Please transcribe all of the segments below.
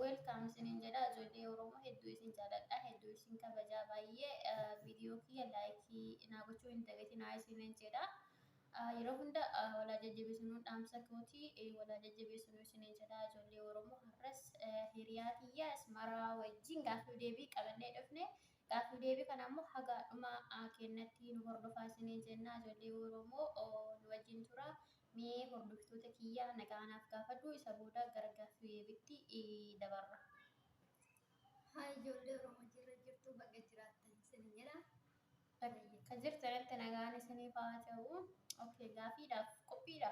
Welcome isinin jedha ijoollee Oromoo hedduu isin jaaladha hedduu isin kabajaa baay'ee viidiyoo kiyya laayikii naa gochuu hin dagatinaa isinin jedha. Yeroo hunda walaa jajjabeessinuu dhaamsa kooti walaa jajjabeessinuu isinin jedha ijoollee Oromoo har'as hiriyaa kiyya Asmaraa wajjin gaaffii deebii qabannee dhufne gaaffii deebii kana immoo haga dhuma kennatti nu hordofaa isinin jenna ijoollee Oromoo nu wajjin tura Mee hordoftoota kiyya nagaa naaf gaafadhu isa booda gara gaaffii deebitti dabarra. Hi ijoollee Oromoo jirra jirtuu baga jiraattan isin jedha. Bakka jirtanitti nagaan isiniif haa ta'u. Okay, gaafiidhaaf qophiidha.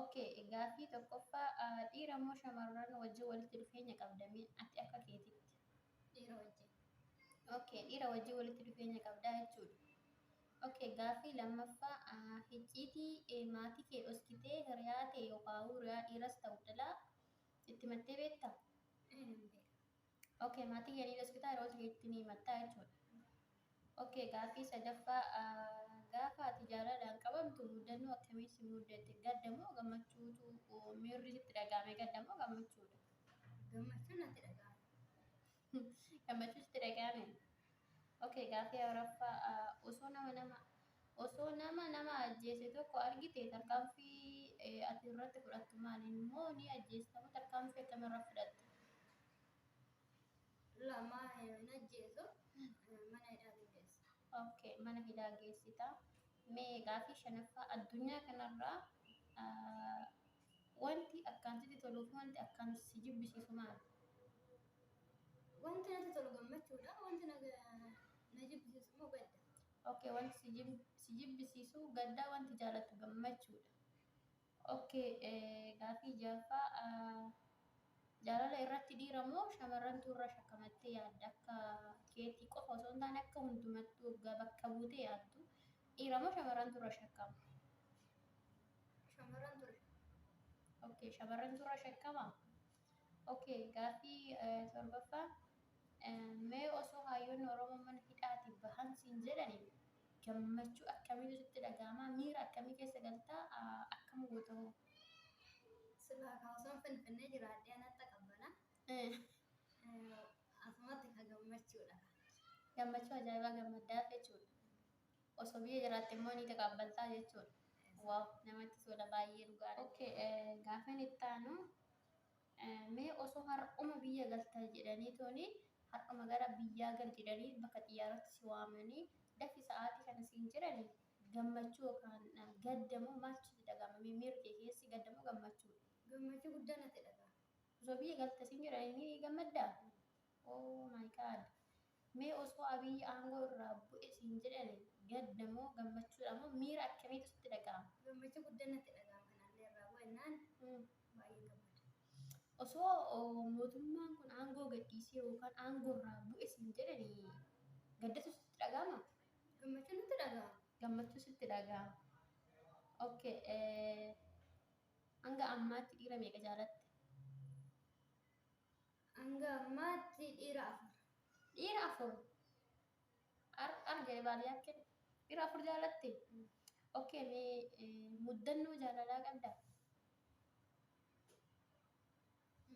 Okay, gaaffii tokkoffaa ah, dhiira moo shamarran wajjin walitti dhufeenya qabda mee ati akka keetitti? Dhiira wajjin. Okay, dhiira wajjin walitti dhufeenya qabdaa jechuudha. Ok gaaffii lammaffaa hicciitii maatii kee dhoskitee hiriyaa tee yookaawuu hiriyaa dhiiras ta'u dhalaa itti himattee beektaa? Ee nan beeka. Ok maatii kee ni dhoskitaa hiriyoota keetti ni himattaa jechuudha. Ok gaaffii sadaffaa gaafa ati jaalalaan qabamtu muddannoo akkamii si muddate gadda moo gammachuutu miirri sitti dhaga'ame gadda moo gammachuudha? Gammachuu natti dhaga'ama. Gammachuutti dhaga'ame. Okay, gaaffii Awurooppaa osoo nama nama osoo nama nama ajjeese tokko argite tarkaanfii ati irratti fudhattu maali? Immoo ni ajjeestamu tarkaanfii akkam irra fudhatta? Lama hin ajjeesu mana hidhaa ni geessa. Okay, mana hidhaa geessita. Mee gaaffii shanaffaa addunyaa kanarraa Wanti akkaan sitti toluu fi wanti akkaan si jibbisiisu maali? Wanti natti tolu gammachuudha, wanti na na jibbisiisu immoo gadda. Okay, wanti si jib- si jibbisiisu gaddaa, wanti jaalattu gammachuudha. Okay, eh, gaafii jaaffaa ah, jaalala irratti dhiira moo shamarrantu irra shakkamattee yaadda? Akka keetii qofa osoo hin taane akka hundumattuu waggaa bakka buutee yaaddu dhiira moo shamarrantu irra shakkama? Shamarran ture. Okay, shamarran turra shakkama. Okay, gaaffii eh, torbaffaa eh, mee osoo hayyoonni Oromoo mana hidhaatii bahan siin jedhani gammachuu akkamiitu sitti dhaga'ama? Miira akkamii keessa galtaa? Ah, Akkam goota hoo? Silaa kan osoo finfinnee jiraadhee anatti qabbana. Eh, Asumatti kan gammachuudha. Gammachuu ajaa'ibaa gammaddaaf jechuudha. Osoo biyya jiraatte immoo ni taqaabbaltaa jechuudha. Waaw namatti tola baay'ee dhugaadha. Okay, eh, gaaffiin itti aanu eh, mee osoo har'uma biyya galta jedhanii tooni har'uma gara biyyaa gal jedhanii bakka xiyyaaratti si waamanii dafi sa'aatii kana siin jedhani gammachuu yookaan eh, gadda moo maaltu sitti dhaga'ama? Mee miirri kee keessi gadda moo gammachuu? Gammachuu guddaa natti dhaga'ama. Osoo biyya galta siin jedhanii ni gammaddaa? Oh my god. Mee osoo Abiy aangoo irraa bu'e siin jedhani gadda moo gammachuudha moo miira akkamiitu sitti dhaga'ama? Gammachuu guddan natti dhaga'ama kan anillee irraa bu'e jennaan baay'een gammada. Osoo mootummaan kun aangoo gadhiisee yookaan aangoo irraa bu'e siin jedhani gaddatu sitti dhaga'ama? Gammachuu natti dhaga'ama. Gammachuu sitti dhaga'ama. Okay. Hanga ammaatti dhiira meeqa jaalatte? Hanga ammaatti dhiira afur. Dhiira afur. Ar ar jedhe baadiyyaa kee. Dhiira afur jaalatti. Okkee ni muddannoo jaalalaa qabda.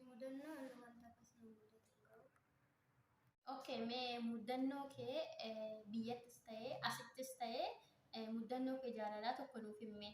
Mudannoo inni wanta akkas nu mudatu hin qabu. Okkee mee muddannoo kee eh, biyyattis ta'ee asittis ta'ee eh, muddannoo kee jaalalaa tokko nuuf himmee.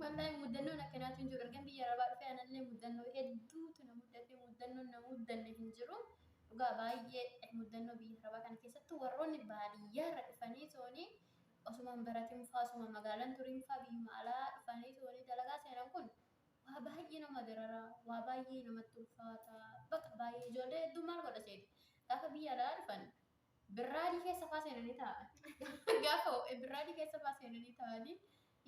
Wallaahi muddannoon akkanaatu hin jiru. Ergan biyya arabaa dhufee anallee muddannoo hedduutu na muddatee muddannoon na muddanne hin jiru. Dhugaa baay'ee muddannoo biyya arabaa kana keessattuu warroonni baadiyyaa irra dhufanii toonii osumaan baratiin faa osuma magaalaan turiin faa biyyuma alaa dhufanii toonii dalagaa seenan kun waa baay'ee nama dararaa waa baay'ee namatti ulfaata bakka baay'ee ijoollee hedduu maal godha seeti gaafa biyya alaa dhufan Birraadii keessa faa seenanii taa'an. Gaafa ho'e birraadii keessa faa seenanii taa'anii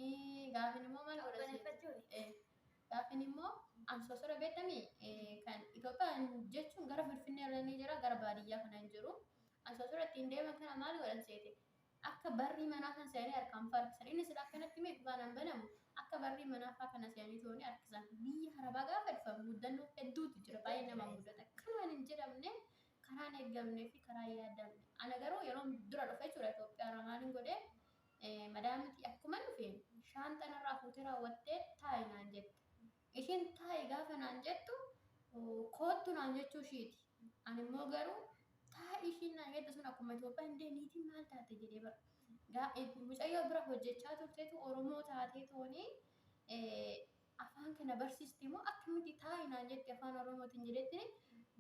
ii, gaafin immoo maal godha isheen? Qabbaneeffachuuni. Eh, Gaafin immoo ansoosora beektamii eh, kan Itoophiyaan jechuun gara Finfinnee irra ni jira gara baadiyyaa kana hin jiru. Ansoosora ittiin deeman kana maal godhan seete? Akka barrii manaa kan seenanii harkaan faa harkisan. Inni sila akkanatti mee baanaan banamu akka barrii manaa faa kana seenanii tooni harkisan. Biyya harabaa gaafa dhufan muddannoo hedduutu jira. Baay'ee nama muddata. Kanaan hin jedhamne Karaa hin eeggamnee fi karaa hin yaadamne. Ana garuu yeroon dura dhufe jechuudha Itoophiyaa irraa maalin godhe madaamitii akkuman dhufe shaanxa narraa fuutee raawwattee taa'i naan jette. Ishiin taa'i gaafa naan jettu koottu naan jechuu ishiiti. Ani immoo garuu taa'i ishiin naan jette sun akkuma Itoophiyaa hin deemne niitiin maal taate jedhee bara. Mucayyoo bira hojjechaa turteetu Oromoo taatee toonii afaan kana barsiiste moo akkamitti taa'i naan jette afaan oromootiin jedhetti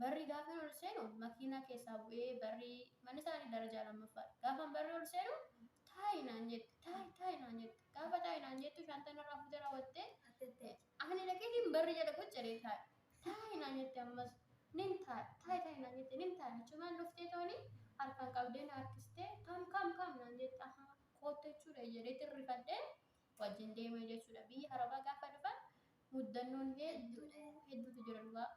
barri gaafan ol seenu makiinaa keessaa bu'ee barri manni isaanii darajaa lammaffaadha gaafan barri ol seenu taa'i naan jette taa'i taa'i naan jette gaafa taa'i naan jettu shaantaa narraa fuutee raawwattee ani dhaqeetiin barri jala qucci jedhee taa'i taa'i naan jette ammas nin taa'i taa'i taa'i naan jette nin taa'i achumaan dhuftee tooni harkaan qabdee na harkistee kam kam kam naan jette ahaa koottu jechuudha jedhee tirrifadhee wajjin deeme jechuudha. Biyya Arabaa gaafa dhufan muddannoon hedduu hedduutu jira dhugaa.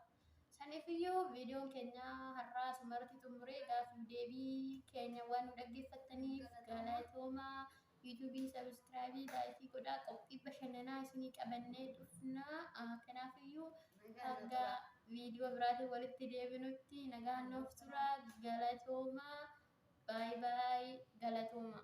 Saniifiyyuu viidiyoon keenya har'aa asumarratti xumuree gaaffiif deebii keenya waan nu dhaggeeffattaniif galatoomaa. Yuutuubii sabiskiraabii laayikii godhaa qophii bashannanaa isinii qabannee dhufnaa. Ah, Kanaafiyyuu hanga viidiyoo biraatiin walitti deebinutti nagaan nuuf tura galatoomaa. Baay baay galatoomaa.